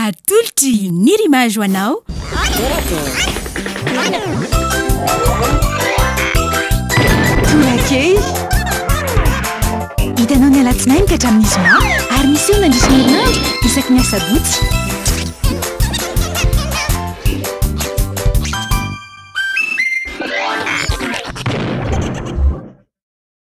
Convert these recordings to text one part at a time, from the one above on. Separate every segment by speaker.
Speaker 1: Atolotry ny Rimage ho anao.
Speaker 2: Torakely. Hitanao ny alatsinainy ka hatramin'ny zoma ary miseho mandritra ny herinandro isaky ny asabotsy.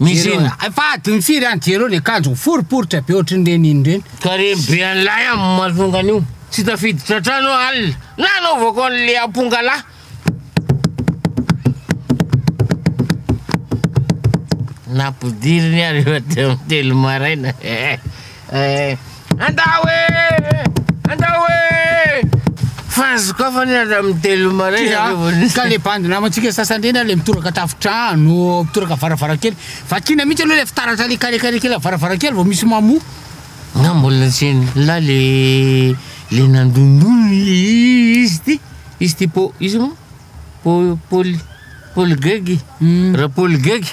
Speaker 3: Misy inona? Efa adiny firy any
Speaker 4: jereo ny akanjo miforiporitra be ohatry ny reniny ireny. Tarehy be an'ilay
Speaker 3: amin'ny masoandro io. Tsy tafiditra an-trano aho alina nanaovako an'ilay ampongalahy. Nampidiriny aho rehefa teo amin'ny telo maraina. Eh! Andao eh! Andao eh! Fa sokafana ianareo amin'ny telo maraina Tia, revô nisy. ka le bandy
Speaker 4: namantsika sasany ireny ary le mitoraka tafontrano, mitoraka varavarankely. Vakiana mihitsy aloha le fitaratra le carré carré kely varavarankely vao misy mamoha. Nga mbola
Speaker 3: tsy eny la le le nandondona i- i- izy ty izy ty po izy moa po poly poly gegy Hum. ra poly gegy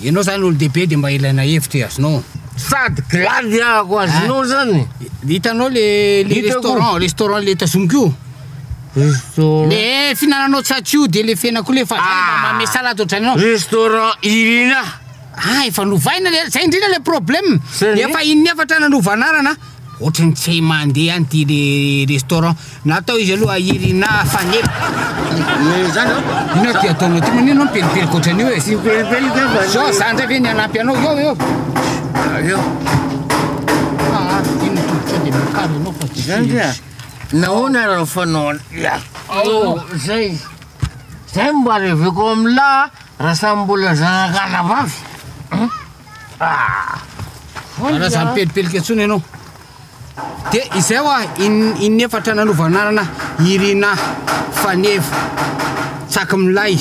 Speaker 3: Ianao zany
Speaker 4: olo-dehibe de mba ilaina hevitra e, azonao. Sady glady
Speaker 3: ahako azonao zany. Hitanao le
Speaker 4: le restaurant, restaurant le tazomiko io. Restaurant. Le finananao tsatsy io de le fena koa le fa zay mba manome salade ohatrany anao. Restaurant
Speaker 3: Irina. Ah efa
Speaker 4: novaina le zay indrindra le problème. Efa in'ny efatra na nova anarana. Ohatry ny tsy mandeha any ty le restaurant natao izy aloha ahiry na fanely eh
Speaker 3: zany oh inona ty
Speaker 4: ataonao ty manino no pelipelika ohatran'io e tsy pelipelika
Speaker 3: fa zao za ndray ve ny hanampy
Speaker 4: anao eo eo eo ah ty ny todotro de mikaro
Speaker 3: ianao fa tsy zany dia nahoana raha fanao ya oh zay zay mba reveko amin'lah raha samy mbola zanak'anabavy
Speaker 4: Ana za mipelipelika intsony ianao. De izay hoa in, inefatra nanovananana Irina Faneva. Tsaky milay.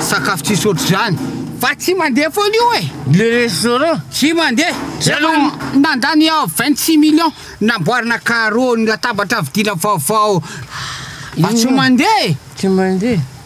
Speaker 4: Sakafo tsisy ohatr'izany. Fa tsy mandeha foana io e. Le restaurant
Speaker 3: tsy mandeha.
Speaker 4: Zay aloha nandany 26 millions namboarina carreau ny latabatra vidiana vaovao. Fa tsy mandeha e. Tsy mandeha.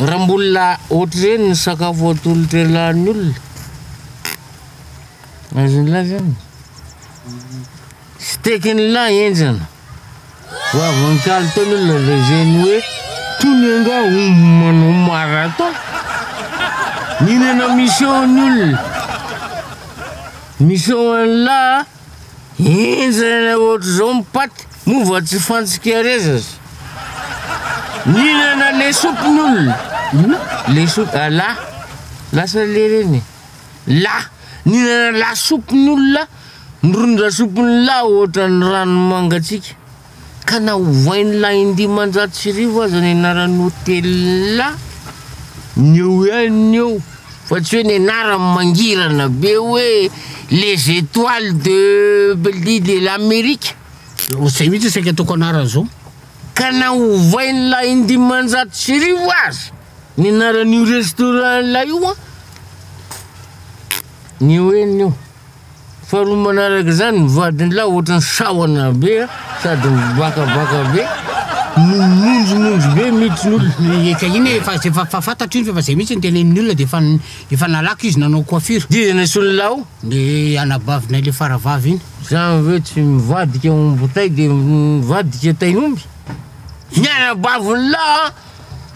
Speaker 3: Raha mbola ohatr'ireny ny sakafo atolotra ilan'ny olona, azony lahy zany. Steakin'ny lahy enjana. Ho avy ny kalitony olona dia izay ny hoe, tony anga omby manao marathon. Mihinana miseho ny olona. Miseho an'lahy. Henjana ohatr'izao ny paty moa vao tsy fantsika rezas. Nihinana lesopy ny olona. Inona? Lesopy ah la. Lasa le reny e. La. Nihinana lasopy ny olona, ny ron-dasopy ny la ohatran'ny rano mangatsiaka. Ka na ovain'ny lahy indimanjato sy arivo aza ny anaran'ny hotela, ny eo ihany ny eo, fa tsy hoe ny anarany mangirana be hoe Les Etoiles de Bellevue de l'Amérique. Izay mihitsy
Speaker 4: saika ataoko anarany izao. Ka na
Speaker 3: ovain'ny lahy indimanjato sy arivo aza ny anaran'io restaurant lahy io an, ny eo ihany ny eo. Faharoa manaraka izany, ny vadin'lah ohatran'ny sahona be sady mivakavaka be, mimonjomonjo be mitsy olona. Ka iny efa
Speaker 4: efa fantatro iny fa zay mitsy ny tenenin'ny olona de efa efa nalako izy nanao coiffure. Dia nasolon'lah o?
Speaker 3: Ny
Speaker 4: anabavinay le faravavy iny. Za ve tsy
Speaker 3: mivadika omby tay de mivadika tain'omby? Ny anabavin'lah a,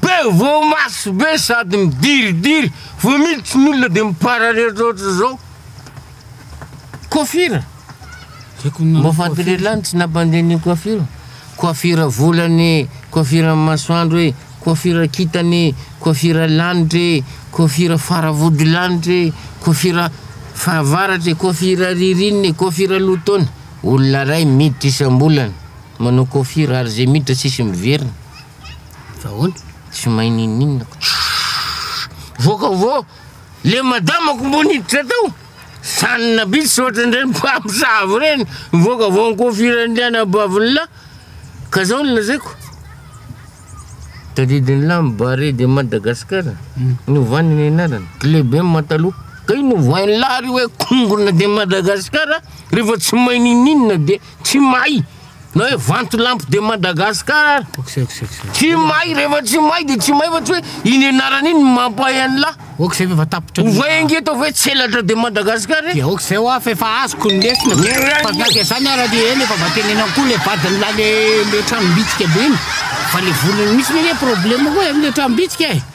Speaker 3: be voamaso be sady midiridiry, vao miditra ny olona de mipararetra ohatran'zao. Coiffure. Mba fantany lany tsy nampandeha ny coiffure. Coiffure volany, coiffure masoandro e, coiffure kitany, coiffure lanitra e, coiffure faravody lanitra e, coiffure fahavaratra e, coiffure ririnina e, coiffure lohataona. Olona ray miditra isam-bolana manao coiffure ary zay miditra tsisy miverina. Fa
Speaker 4: ahoana? Tsy mahay
Speaker 3: ninoninona. Voaka vao. Le madamako mbo niditra tao, sanona bitsy tsy ohatran'ireny mpamosavy ireny, mivoaka vao nikofiran'ilay anabavin'i la, ka zao no lazaiko, tadidin'i la am Barea de Madagascar novany ny anarany, kle be ma taloha, ka io novohain'i la ary hoe kongona de Madagascar, refa tsy mahay ninoninona de tsy mahay. Na hoe vantolampy de Madagascar ary. Tsy may rehefa tsy may de tsy may fa tsy hoe iny anarana iny mampahay an'lah. Ok zay fa tapitra.
Speaker 4: Ovay ange atao hoe
Speaker 3: tselatra de Madagascar e. Dia ok zay hoa fa efa
Speaker 4: azoko ny lesona. Fa na dia zany ara dia eny efa vatenenako koa le vadin'lah le le tranom-bitsika be iny. Fa le volany mihitsy anie problème koa e, le tranom-bitsika e.